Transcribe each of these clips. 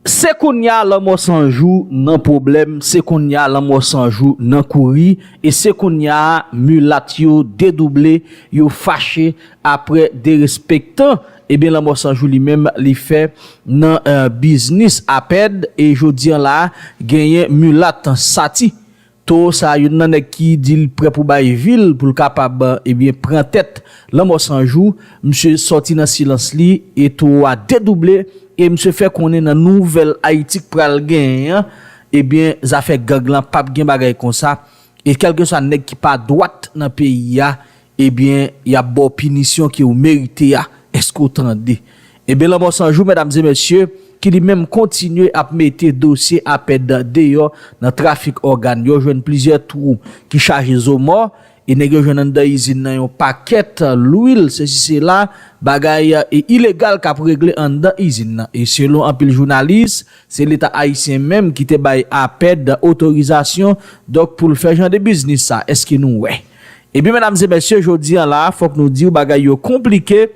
Se kounya lanmò san jou nan pwoblèm, se kounya lanmò san jou nan kouri, e se kounya milat yo dedouble, yo fache apre derespektan, ebyen lanmò san jou li menm li fè nan biznis apèd, e jodi an la genyen milat sati Toro sa youn nan nèg ki di li prè pou bay vi l pou l kapab ebyen pran tèt Lanmò 100 jou, misye sòti nan silans li e toro a dedouble e misye fè konnen nan nouvèl Ayiti k pral genyen an ebyen zafè gang lan pap gen bagay konsa e kèlkeswa nèg ki pa dwat nan peyi a Ebyen yap baw pinisyon ke ou merite a eske ou tande. Ebyen lanmò san jou medam e mesye ki li menm kontinye ap mete dosye apèd deyò nan trafik ògan yo jwenn plizyè twou ki chaje zo mò e nèg yo jwenn anndan izin nan yon pakèt lwil sesi sela bagay e ilegal kap regle anndan izin nan e selon anpil jounalis se leta ayisyen menm ki te bay apèd otorizasyon donk poul fè jan de biznis sa eske nou wè. Ebyen medam e mesye jodi an la fok nou diw bagay yo konplike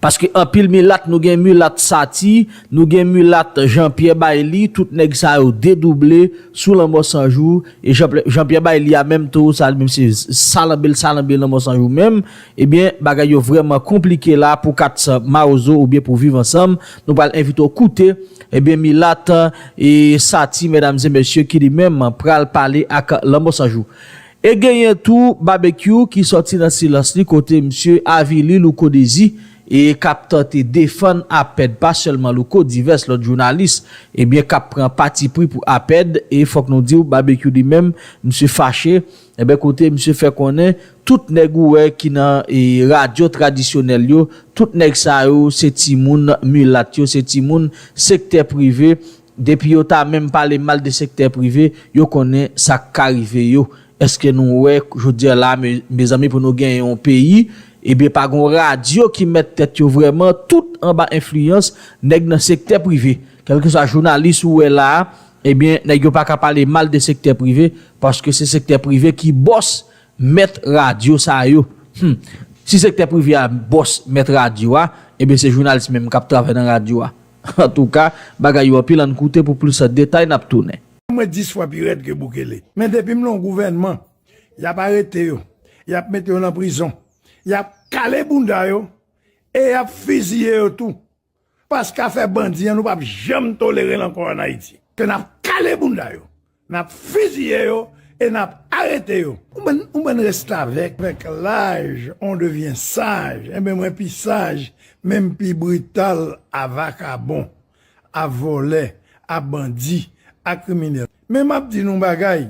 paske anpil milat nou gen milat sati nou gen milat jan pyè bayli tout neg sa yo dedouble sou lanmò sanjou e jan pyè bayli a menm tou sa li menm se salanbe l salanbe lanmò sanjou menm ebyen bagay yo vreman konplike la pou 4 mawozo oubyen pou viv ansanm nou pral envite w koute ebyen milat e sati medam e mesye ki li menm pral pale ak lanmò sanjou. E genyen tou Babekyou ki sòti nan silans li kote misye avili Louko Dezi e k ap tante defann Apèd pa sèlman Louko divès lòt jounalis ebyen k ap pran patipri pou Apèd e fòk nou di w Babekyou li menm misye fache ebyen kote misye fè konnen tout nèg ou wè ki nan radyo tradisyonèl yo tout nèg sa yo se timoun milat yo se timoun sektè prive Depi yo ta menm pale mal de sektè prive, yo konnen sa k ka rive yo. Eske nou wè jodi a la a mezanmi pou nou gen yon peyi, ebyen pa gon radyo ki mèt tèt yo vrèman, tout anba enfliyans nèg nan sektè prive. Kèlkeswa jounalis ou wè la a, ebyen nèg yo pa ka pale mal de sektè prive, paske se sektè prive ki bòs, mèt radyo sa yo. Hum! Si sektè prive a bòs, mèt radyo a, ebyen se jounalis menm k ap travay nan radyo a. Antouka bagay yo anpil ann koute pou plis detay nap tounen. Mwen 10 fwa pi rèd ke Bukele. Men depi m lan gouvènman, yap arete yo, yap mete yo lan prizon, yap kale bounda yo e yap fiziye yo tou. Paske afè bandi an nou pap janm tolerel ankò an Ayiti. Ke nap kale bounda yo. Nap fiziye yo e nap arete yo. Ou bann restavèk. Vèk laj on devyen saj enben mwen pi saj menm pi brital a vakabon a vòlè a bandi a kriminèl men map di nou bagay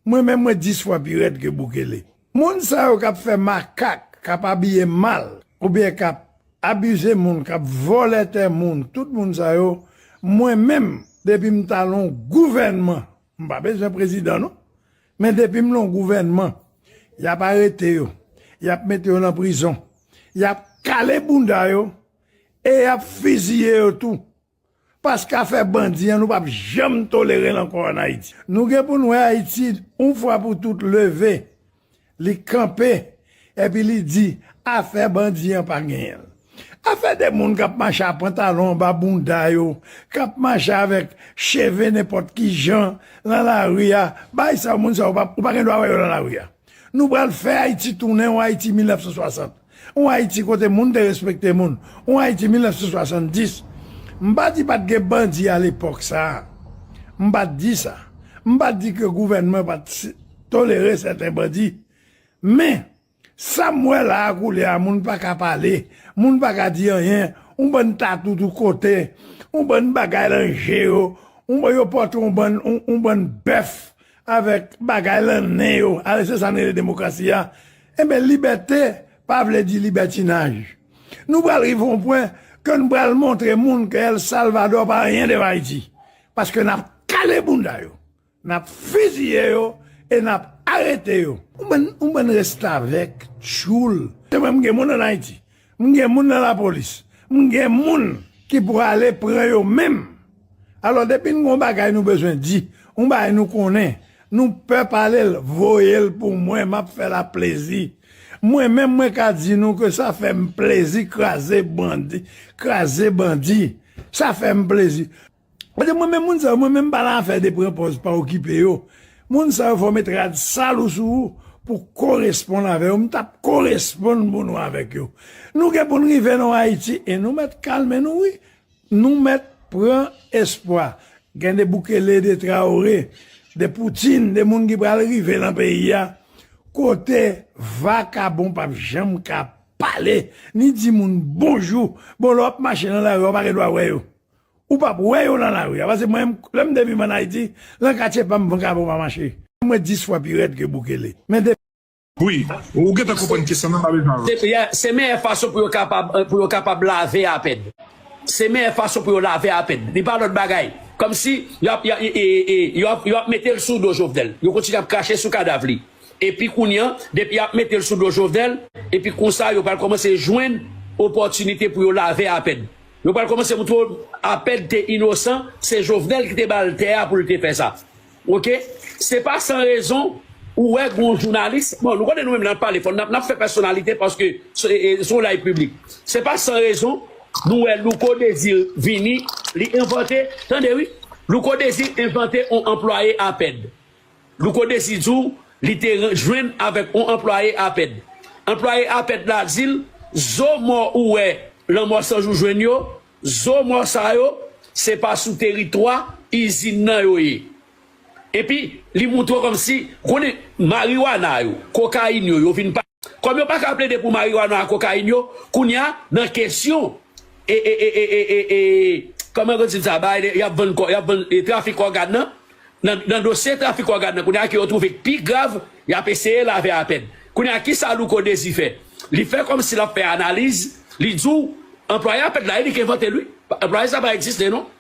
mwen menm mwen 10 fwa pi rèd ke Bukele. Moun sa yo kap fè makak, kap abiye mal, oubyen kap abize moun, kap vòlè tè moun, tout moun sa yo, mwen menm depi m ta lon gouvènman, m pa bezwen prezidan non, men depi m lon gouvènman, yap arete yo, yap mete yo lan prizon, yap kale bounda yo, e yap fiziye yo tou, Paske afè bandi an nou pap janm tolerel ankò an Ayiti. Nou gen pou n wè Ayiti yon fwa pou tout leve, li kanpe epi li di afè bandi an pa genyen. Afè de moun kap mache a pantalon anba bounda yo, kap mache avèk cheve nenpòt ki jan lan lari a, bay sa yo moun sa yo ou pa gen dwa wè yo lan lari a. Nou pral fè Ayiti tounen yon Ayiti 1960. Yon Ayiti kote moun te respekte moun. Yon Ayiti 1970. M pa di pa t gen bandi alepòk sa a. M pa t di sa. M pa t di ke gouvènman pa t tolere sèten bandi. Men, sa m wè la a koulye a, moun pa ka pale, moun pa ka di anyen, yon bann tatou tout kote, yon bann bagay lan je yo, yo pòte yon bann, yon bann bèf avèk bagay lan nen yo, alò se sa n rele demokrasi a. Enben libète pa vle di libètinaj. Nou pral rive yon pwen ke nou pral montre moun ke El Salvador pa anyen devan Ayiti. Paske nap kale bounda yo, nap fiziye yo e nap arete yo. Yon bann restavèk, tchoul. Se mwen m gen moun an Ayiti. M gen moun nan la polis. M gen moun ki prale pran yo menm. Alò depi n gon bagay nou bezwen di, on bagay nou konnen, nou pè pale l, voye l pou mwen m ap fè la plezi. Mwen menm mwen ka di nou ke sa fè m plezi kraze bandi, kraze bandi. Sa fè m plezi. Kote mwen menm moun sa yo mwen menm pa nan afè de pran pòz pa okipe yo moun sa yo fò met rad sal ou sou ou pou koresponn avè yo m tap koresponn pou nou avèk yo nou gen pou n rive nan ayiti e nou mèt kalme nou wi nou mèt pran espwa gen de bukele de traore de poutine de moun ki pral rive nan peyi a kote vakabon pap janm ka pale ni di moun bonjou bon lè wap mache nan lari ou pa gen dwa wè yo. Ou pap wè yo lan lari a pase mwen lèm te viv an Ayiti lan katye pam vagabon pa mache mwen 10 fwa pi rèd ke Bukele men depi Wi, ou gentan konprann kesyon nan pa bezwen avanse. Depi a, se meyè fason pou yo kapab pou yo kapab lave apèn. Se meyè fason pou yo lave apèn. Li pa lòt bagay. Kòmsi yo ap ya e e yo ap yo ap mete l sou do Jovenel. Yo kontinye ap krache sou kadav li. Epi kounye an, depi y ap mete l sou do Jovenel, epi konsa yo pral kòmanse jwenn opòtinite pou yo lave apèn. Yo pral komanse moutre w Apèd te inosan se Jovenel ki te ba l tè a pou l te fè sa ok se pa san rezon ou wè gon jounalis bon nou konnen nou menm lè n ap pale fò n ap fè pèsonalite paske se yon live piblik se pa san rezon nou wè Louko Desir vini li envante tande wi Louko Desir envante yon anplwaye Apèd Louko Desi di w li te jwenn avèk on anplwaye APED. Anplwaye APED la di l, Zo mò ou wè Lanmò 100 jou jwenn yo, zo mò sa yo, se pa sou teritwa izin nan yo ye. Epi, li montre w kòmsi, ou konnen, mariwana yo, kokayin yo, yo vin pa. Kòm yo paka plede pou marijuana ak kokayin yo, kounya nan kesyon e kòman yo di l sa bay y ap vann kò y ap vann trafik ògàn nan, nan dosye trafik ògàn nan kounya ke yo twouve k pi grav y ap eseye lave a pèn. Kounya kisa Louko Dezi fè? Li fè kòm si l ap fè analiz, li di w anplwaye APED la e li k envante l wi, anplwaye sa pa egziste non.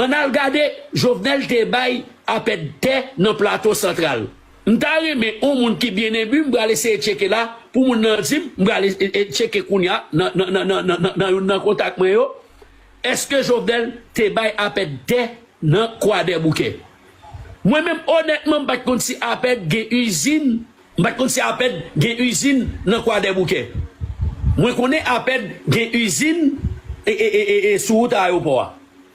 Ann al gade Jovenel te bay apèd tè nan Plato Santral. M ta renmen on moun ki byen enbu m pral eseye tcheke la pou moun nan di m, m pral tcheke kounya nan youn nan kontak mwen yo, èske Jovenel te bay apèd tè nan Kwadèboukè. Mwen menm onètman m pa t konn si apèd gen izin. M pat konn si Apèd gen izin nan Kwadèboukè. Mwen konnen Apèd gen izin sou wout ayewopò a.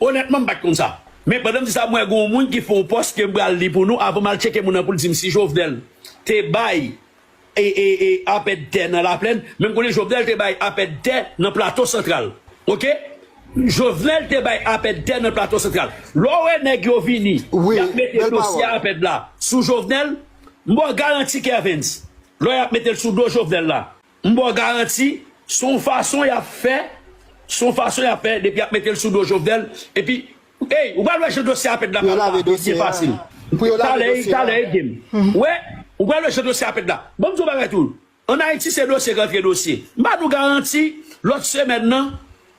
Onètman m pat konn sa. Men pandan m di sa m wè gen yon moun ki fè yon pòs ke m pral li pou nou avan m al tcheke moun nan pou l di m si Jovnèl te bay Apèd tè nan Laplèn. Men m konnen Jovnèl te bay Apèd tè nan Plato Santral. Oke. Jovnèl te bay Apèd tè nan Plato Santral. Lè w wè nèg yo vini y ap mete dosye Apèd la sou Jovnèl, M ba w garanti Kervens, lò y ap mete l sou do Jovenel la, m ba w garanti s on fason y ap fè, s on fason y ap fè depi y ap mete l sou do Jovenel epi ey ou pral wè jan dosye a ap èd la pral lave dosye a, talè talè ede m wè ou pral wè jan dosye a ap èd la Bon m di w yon bagay tou ann Ayiti se dosye k antre dosye m ba nou garanti lòt semèn nan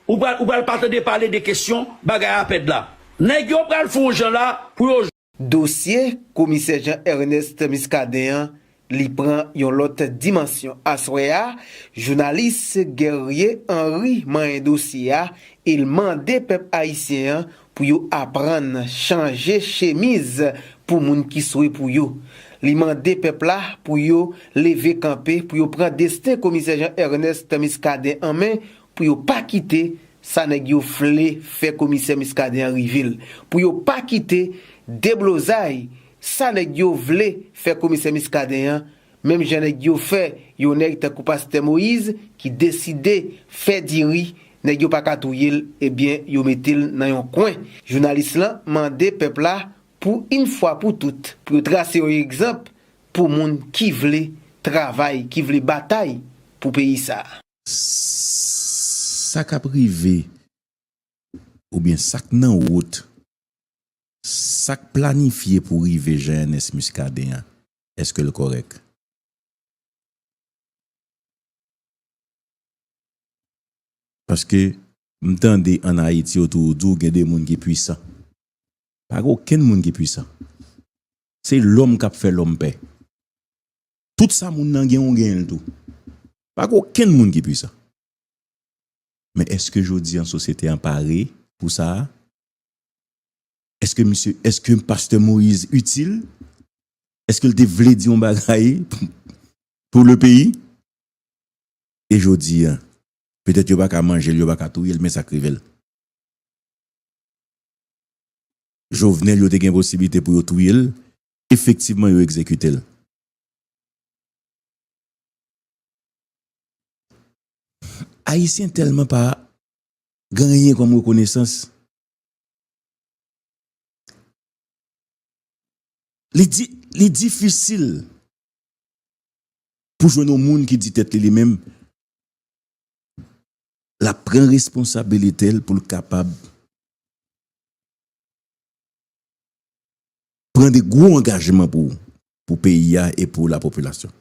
ou pral ou pral pa tande pale de kesyon bagay a ap èd la nèg yo pral fè yon jan la pou yo. Dosye komisè Jean Ernest Muscadin an li pran yon lòt dimansyon aswè a, jounalis Guerrier Henry manyen dosye a e l mande pèp ayisyen an pou yo aprann chanje chemiz pou moun ki swe pou yo. Li mande pèp la pou yo leve kanpe pou yo pran desten komisè Jean Ernest Muscadin an men Pou yo pa kite sa nèg yo vle fè komisè Muscadin an rive l. Pou yo pa kite deblozay sa nèg yo vle fè komisè Muscadin an, menm jan nèg yo fè yon nèg tankou pastè Moïse ki deside fè diri, nèg yo pa ka touye l ebyen yo mete l nan yon kwen. Jounalis lan mande pèp la pou yn fwa pou tout pou yo trase yon egzanp pou moun ki vle travay, ki vle batay pou peyi sa. Sa k ap rive oubyen sa k nan wout, sa k planifye pou rive Jean Ernest Muscadin an, èske l kòrèk? Paske m tande an Ayiti yo toujou di w gen de moun ki pwisan. Pa gen okenn moun ki pwisan. Se lòm k ap fè lòm pè. Tout sa moun nan gen ou genyen l tou. Pa gen okenn moun ki pwisan. Men èske jodi an sosyete an pare pou sa a? Èske misye, èske pastè Moïse itil? Èske l te vle di yon bagay pou le peyi? E jodi an? Petèt yo pa ka manje l, yo pa ka touye l men sa k rive l? Jovenel yo te gen posiblite pou yo touye l, Efektivman yo egzekite l. Ayisyen tèlman pa gen anyen kòm rekonesans. Li difisil pou jwenn yon moun ki di tèt li li menm l ap pran responsabilite l pou l kapab pran de gwo angajman pou peyi a e pou la popilasyon.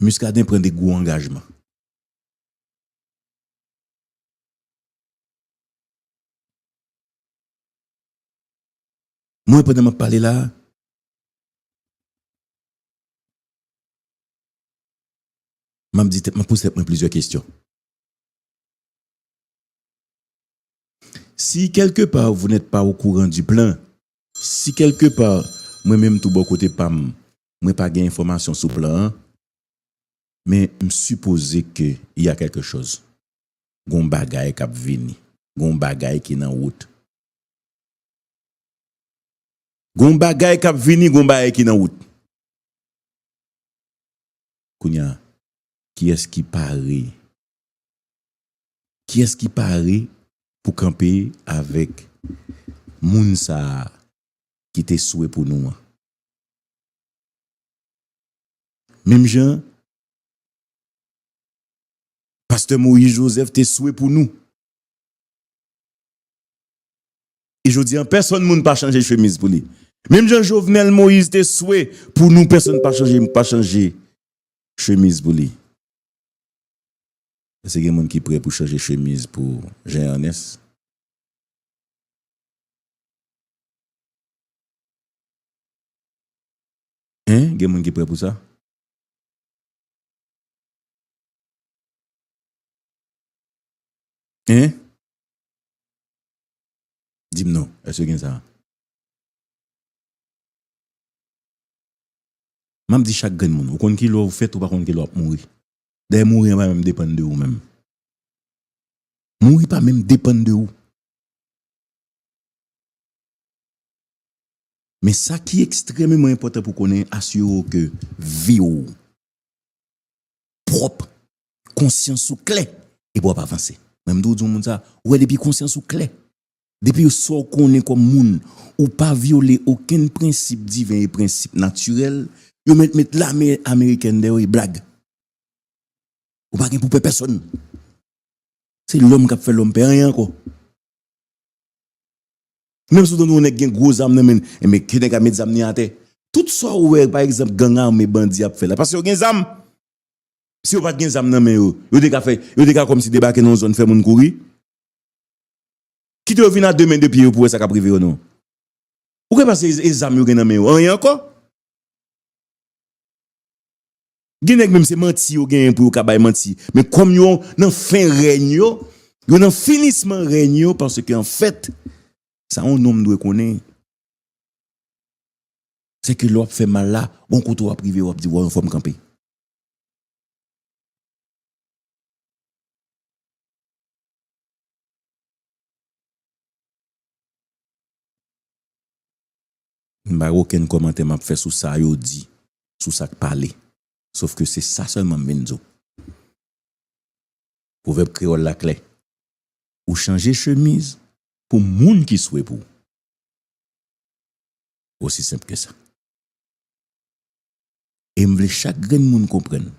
Muscadin pran de gwo angajman. Mwen pandan map pale la, map di tèt mwen, map poze tèt mwen plizyè kestyon. Si quelque part vous n'êtes pas au courant du plan, Si quelque part mwen menm tou bò kote pa m mwen pa gen enfòmasyon sou plan an, men m sipoze ke il y a quelque chose, gen yon bagay k ap vini, gen yon bagay ki nan wout. Gen yon bagay k ap vini, gen yon bagay ki nan wout. Kounye a, Kiyès ki pare? Kiyès ki pare pou kanpe avèk moun sa a ki te swe pou nou an? Menm jan pastè Moïse Joseph te swe pou nou. E jodi a pèsòn moun pa chanje chemiz pou li. Menm jan Jovenel Moïse te swe pou nou pèsòn pa chanje pa chanje chemiz pou li. Èske gen moun ki prè pou chanje chemiz pou Jean Ernest? Hein? Gen moun ki prè pou sa? Hein? Di m non, èske gen sa? Map di chak grenn moun, ou konn kilè ou fèt ou pa konn kilè wap mouri. Dayè mouri an pa menm depann de ou menm. Mouri pa menm depann de ou. Men sa ki ekstrememan enpòtan pou konnen asire ou ke vi ou pwòp, konsyans ou klè epi wap avanse. Menm tou di yon moun sa, ou wè depi konsyans ou klè Depi yo sa w konnen kòm moun, ou pa vyole okenn prensip diven e prensip natirèl, yo mèt met lame amerikèn dèyè w e blag. Ou pa gen pou pè pèsonn. Se lòm k ap fè lòm pè, anyen ankò. Menm si w tande yon nèg gen gwo zam nan men l, enben ke nèg la met zam li atè. Tout sa w wè pa egzanp gang ame, bandi ap fè la, paske yo gen zam. Si yo pa t gen zam nan men yo, yo te ka fè, yo te ka kòmsi debake nan yon zòn fè moun kouri. Kite yo vin a 2 men 2 pye yo pou wè sa kap rive yo non. Ou gen panse e zam yo gen nan men yo anyen ankò? Gen nèg menm se manti yo genyen pou yo ka bay manti men kòm yo nan fen règn yo, yo nan finisman règn yo paske an fèt sa yon nonm dwe konnen se ke lè wap fè mal la gon kote wap rive wap di waw fòm kanpe. M pa gen okenn kòmantè m ap fè sou sa yo di, sou sa k pale. Sof ke se sa sèlman m vin di w. Pwovèb kreyòl la klè, Ou chanje chemiz pou moun ki swe pou w. Osi senp ke sa. E m vle chak grenn moun konprann.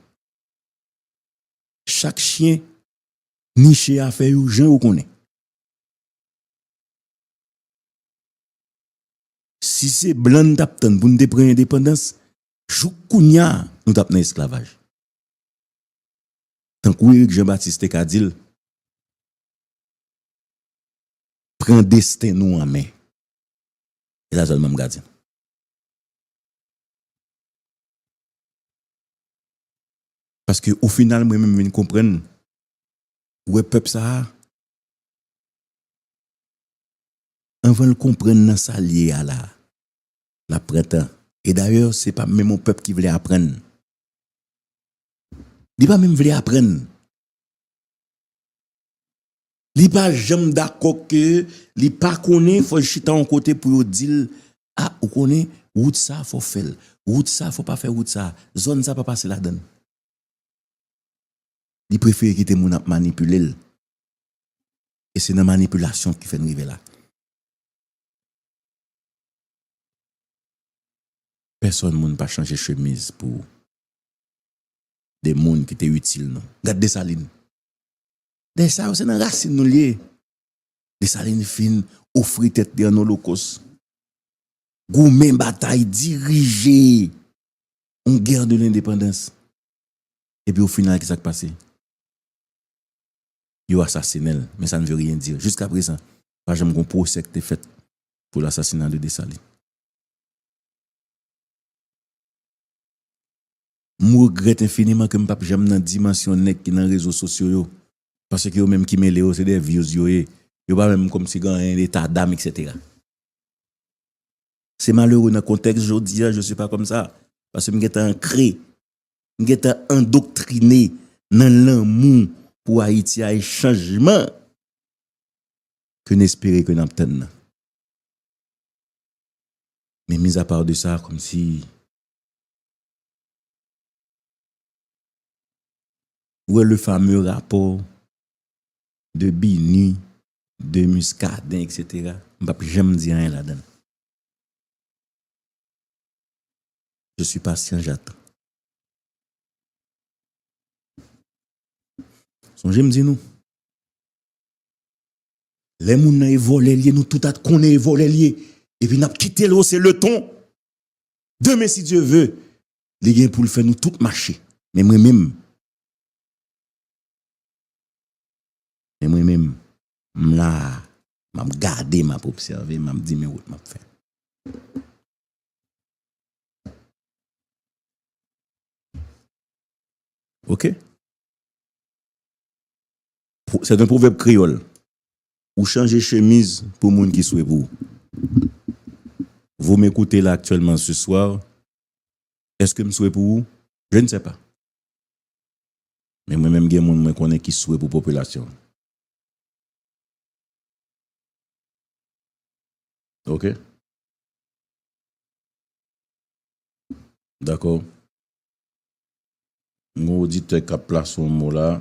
Chak chyen Niche afè yo jan yo konnen. Si se blan n tap tann pou n te pran endepandans, jouk kounya nou tap nan esklavaj. Tankou Erik Jan Batis te ka di l, Pran desten nou an men. Se sa sèlman m ka di nou. Paske o final mwen menm vin konprann wè pèp sa a anvan l konprann nan sa l ye a la a l ap pran tan e dayè se pa menm on pèp ki vle aprann li pa menm vle aprann. Li pa janm dakò ke li pa konnen fò yo chita yon kote pou yo dil a ou konnen wout sa fò w fèl wout sa fò w pa fè wout sa zòn sa pa pase ladann li prefere kite moun ap manipile l e se nan manipilasyon ki fè n rive la. Pèsòn moun pa chanje chemiz pou de moun ki te itil nou gad Desalin Dèy sa yo se nan rasin nou li ye. Desalin fin ofri tèt li an olokos. Goumen batay dirije yon gè de lendepandans. Epi o final ki sa k pase? Yo asasinen l men sa n ve ryen di. Jiska prezan pa janm gen yon pwosè ki te fèt pou lasasina de Desalin. M regrèt enfiniman ke m pap janm nan dimansyon nèg ki nan rezo sosyo yo, paske yo menm ki mele yo se de vyouz yo ye, yo pa menm kòmsi gen anyen eta dam etc. Se malere nan kontèks jodi a je suis pas comme ça, paske m gentan ankre, m gentan andoktrine nan lanmou pou Ayiti a e chanjman ke n espere ke n ap tann nan. Men mizapar de sa kòmsi Ou wè le fameux rapport de BINUH, de Muscadin etc. M pap janm di anyen ladan l. Je suis patient, j'attends. Sonje m di nou, lè moun nan e vòlè l ye nou tout a t konnen e vòlè l ye epi n ap kite l ose le ton. Demen si Dye ve, li gen pou l fè nou tout mache. Men mwen menm, men mwen menm, m la a, m ap gade, m ap obsève, m ap di men wout m ap fè. Ok? Se yon pwovèb kreyòl. Ou chanje chemiz pou moun ki swe pou ou. Vous m'ecoutez là actuellement ce soir, est-ce que m swe pou ou? Je ne sais pas. Men mwen menm gen moun mwen konnen ki swe pou popilasyon an. Ok. Dakò. M gen yon oditè k ap plase yon mo la.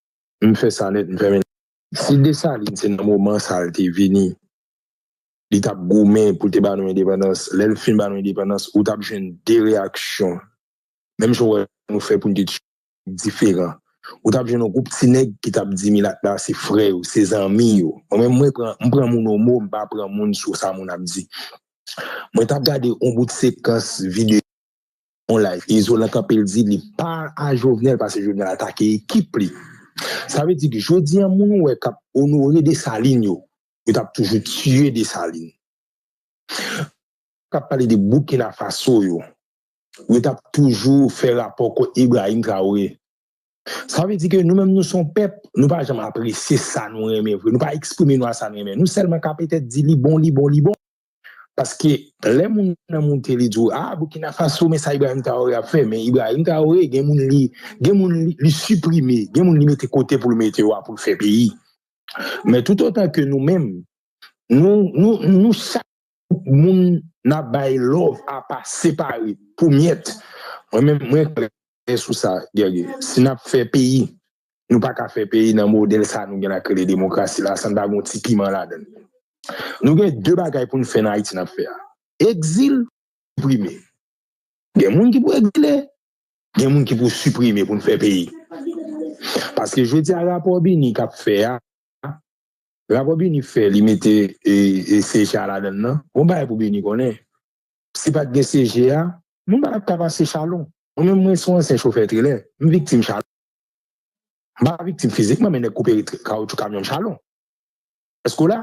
M fè sa nèt, m fèmen. Si Desalin se nan moman sa l te vini, li t ap goumen pou l te ba nou endepandans, lè l fin ba nou endepandans, ou t ap jwenn de reyaksyon, menm jan w wè nou fè pou n te tiye nèg diferan. Ou t ap jwenn yon gwoup ti nèg ki t ap di milat la se frè yo, se zanmi yo. Mwen menm, mwen pran, m pran moun o mo, m pa pran moun sou sa moun ap di. Mwen t ap gade yon bout sekans videyo. On live Izolan kanpe l di li pa a Jovenel pase Jovenel atake ekip li. Sa vle di ke jodi an moun ou wè kap onore Dessalines yo, yo tap toujou tiye Dessalines. Kap pale de Burkina Faso yo, yo tap toujou fè rapò kont Ibrahim Traoré. Sa vle di ke nou menm nou se yon pèp, nou pa janm apresye sa nou renmen vre, nou pa eksprime nou a sa nou renmen. Nou sèlman kanpe tèt di li bon, li bon, li bon. Paske lè moun nan moute li di w a Burkina Faso men sa Ibrahim Traoré ap fè men Ibrahim Traoré gen moun li gen moun li siprime gen moun li mete kote pou l mete yo a pou l fè peyi men tout otan ke nou menm nou nou nou chak moun nan bay love apa separe pou myèt mwen menm mwen Kanpe sou sa Guerrier. Si nap fè peyi, nou pa ka fè peyi nan modèl sa nou gen la k rele demokrasi la san pa gon ti piman ladan l. Nou gen 2 bagay pou n fè nan Ayiti nap fè a. Egzil, siprime. Gen moun ki pou egzile, gen moun ki pou siprime pou n fè peyi. Paske jodi a rapò Bini kap fè a, rapò Bini fè li mete CHA ladan l nan, gon bagay pou Bini konnen, Si pat gen CG a, moun pa tap ka pase chalon. Mwen menm mwen son ansyen chofè trelè, m viktim chalon. M pa viktim fizikman men nèg koupe kawoutchou kamyon m chalon. Èske w la?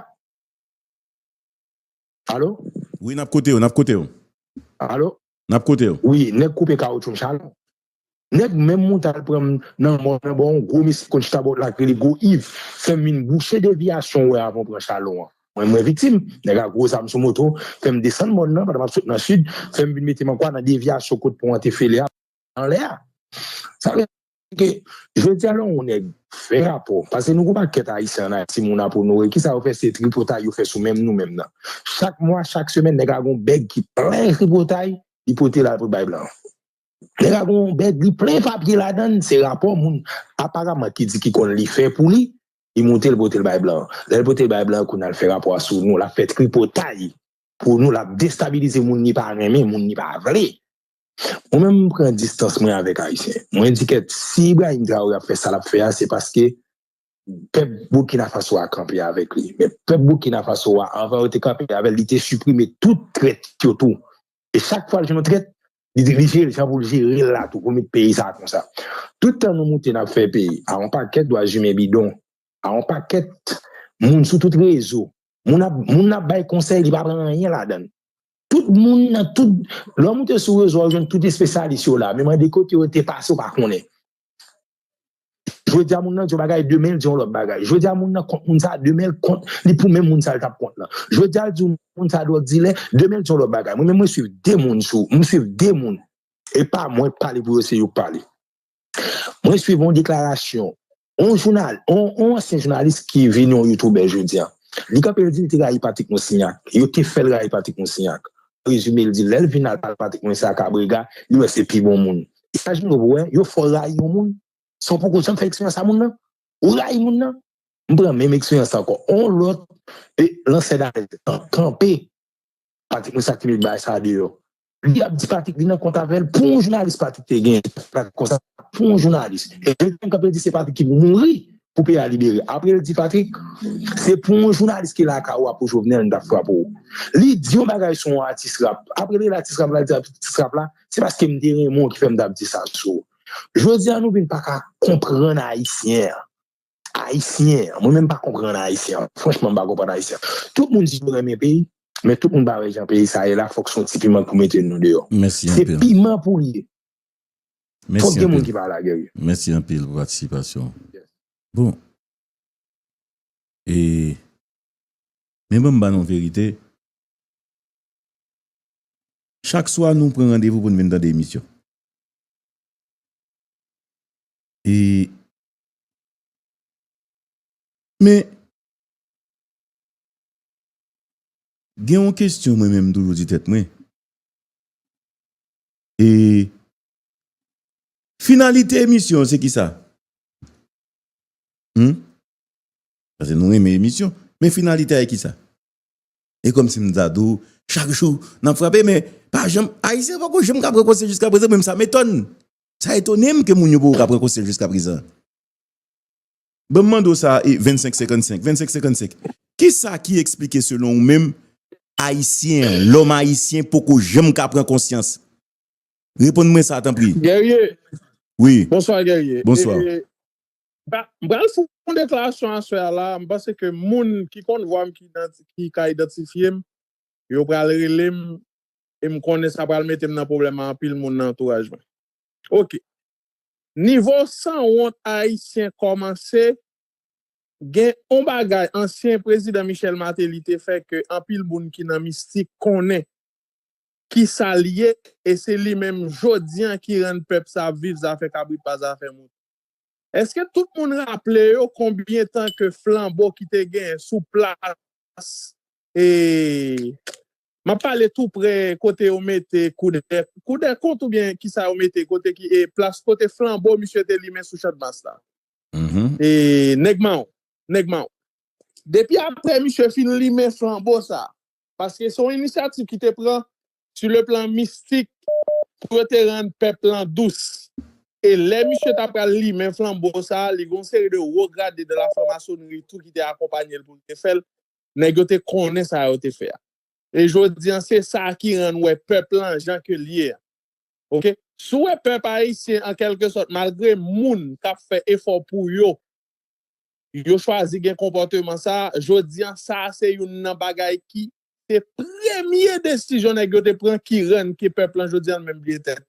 Alo? Wi nap kote w, nap kote w. Alo? Nap kote w. Wi, nèg koupe kawoutchou m chalon. Nèg menm mwen tal pran nan mò nan ba yon gwo mesye konn chita bò lak rele gwo iv fèm vin bouche devyasyon wè avan pran chalon an mwen mwen viktim nèg a gwo zam sou moto fèm desann mòn nan pandan map sot nan sid fèm vin metem ankwa nan devyasyon kot pon an te fele a anlè a sa vle di jodi a lè yon nèg fè rapò pase nou gwo pakèt ayisyen an ayiti moun ap onore kisa yo fè se tripotay yo fè sou menm nou menm nan chak mwa chak semèn nèg la gon bèg ki plen tripotay li pote lal poul bay blan. Lè ka gon bèg li plen papye ladann, se rapò moun aparaman ki di ki konn li fè pou li, li moute l pote l bay blan an. Lè l pote l bay blan an, kounye a l fè rapò a sou nou, l ap fè tripotay pou nou, l ap destabilize moun li pa renmen, moun li pa vle. Mwen menm m pran distans mwen avèk Ayisyen. Mwen di kèt, si Ibrahim Traoré ap fè sa l ap fè a, se paske pèp Burkina Faso a kanpe avèk li. Men pèp Burkina Faso a, anvan yo te kanpe avè l, li te siprime tout trèt yo tou. E chak fwa l jwenn yon trèt, Li jere jan pou l jere la tou pou met peyi sa konsa. Tout tan nou moute nap fè peyi a yon pakèt dwazimen bidon, a yon pakèt moun sou tout rezo. Moun ap moun nap bay konsèy li pa pran anyen ladan. Tout moun nan tout lè w moute sou rezo a ou jwenn tout espesyalis yo la men mande kote yo te pase ou pa konnen. Jodi a moun nan di yon bagay, demen l di yon lòt bagay. Jodi a moun nan kont moun sa, demen l kont li pou menm moun sa l t ap kont lan. Jodi a l di moun sa dwòg dilè, demen l di yon lòt bagay. Mwen menm mwen suiv de moun sou, mwen suiv de moun. E pa mwen k pale pou yo, se yo k pale. Mwen suiv yon deklarasyon, yon jounal, yon ansyen jounalis ki vini yon youtoubè jodi a. Li kanpe li di li te rayi Patrick Moussignac. Yo te fè l rayi Patrick Moussignac. prezime l di lè l vin al pale Patrick Moise a Cabrega, li wè se pi bon moun. E sa Jimmy Robo wè, yo fè w rayi yon moun san w poko janm fè eksperyans a moun nan. Ou rayi moun nan. M pran menm eksperyans la ankò. On lòt e lansè dalèt an kanpe Patrick Moise a ki met bagay sa deyò. Li ap di Patrick li nan kont avè l pou yon jounalis Patrick te genyen, Patrick konsa. pou yon jounalis e li menm kanpe li di se Patrick ki pou mouri pou peyi a libere apre li di Patrick se pou yon jounalis ki lakay ou a pou Jovenel nou tap frape ou li di yon bagay sou yon atis rap apre li rele atis rap la li di atis rap la se paske m te renmen w ki fè m tap di sa sou ou jodi a nou vin pa ka konprann ayisyen an ayisyen an mwen menm pa konprann ayisyen an franchman m pa konprann ayisyen an tout moun di yo renmen peyi men tout moun pa wè jan peyi sa ye la fòk son ti piman k pou mete nou deyò se piman pou l ye. Mèsi anpil Mèsi anpil pou patisipasyon ou Bon E Men banm ba nou verite Chak swa nou pran randevou pou nou vin tande emisyon E Men Gen yon kestyon mwen menm toujou di tèt mwen E Finalite emisyon an se kisa? Humm Pase nou renmen emisyon Men finalite a e kisa? E komsi m ta di w chak jou n ap frape men pa janm Ayisyen pa ko janm ka pran konsèy jiskaprezan men sa m etòn Sa etone m ke moun yo poko ka pran konsèy jiskaprezan. Banm mande w sa e 25 55 25 55 kisa ki eksplike selon ou menm ayisyen an lòm ayisyen poko janm ka pran konsyans reponn mwen sa tanpri. Guerrier Wi Bonsoir Guerrier Bonsoir. M pral fè yon deklarasyon aswè a la, m panse ke moun ki konn vwa m ki ka idantifye m yo pral rele m e m konnen sa pral mete m nan pwoblèm a anpil moun nan antouraj mwen. Ok Nivo sanwont ayisyen kòmanse Gen on bagay ansyen prezidan Michel Martelly te fè ke anpil moun ki nan mistik konnen kisal ye e se li menm jodi an ki rann pèp sa ap viv zafè kabrit pa zafè mouton. Eske tout moun raple yo konbyen tan ke flanbo ki te genyen sou plas e M ap pale tou prè kote yo mete kou dè kou dè kont ou byen ki sa yo mete kote ki e plas kote flanbo misye te limen sou Chandmas la e nèg mawon nèg mawon depi aprè misye fin limen flanbo sa paske se yon inisyativ ki te pran su le plan mistik pou yo te rann pèp lan dous e lè misye ta pral limen flanbo sa li gen yon seri de wo grade de la franmasonri tou ki te akonpanye l pou l te fè l Nèg yo te konnen sa yo te fè a. E jodi an se sa ki rann wè pèp lan jan ke l ye a. Ok. Si w wè pèp ayisyen an kèlke sòt malgre moun k ap fè efò pou yo, yo chwazi gen konpòteman sa a, jodi an sa a se youn nan bagay ki te premye desizyon nèg yo te pran ki rann ke pèp lan jodi an menm bliye tèt li.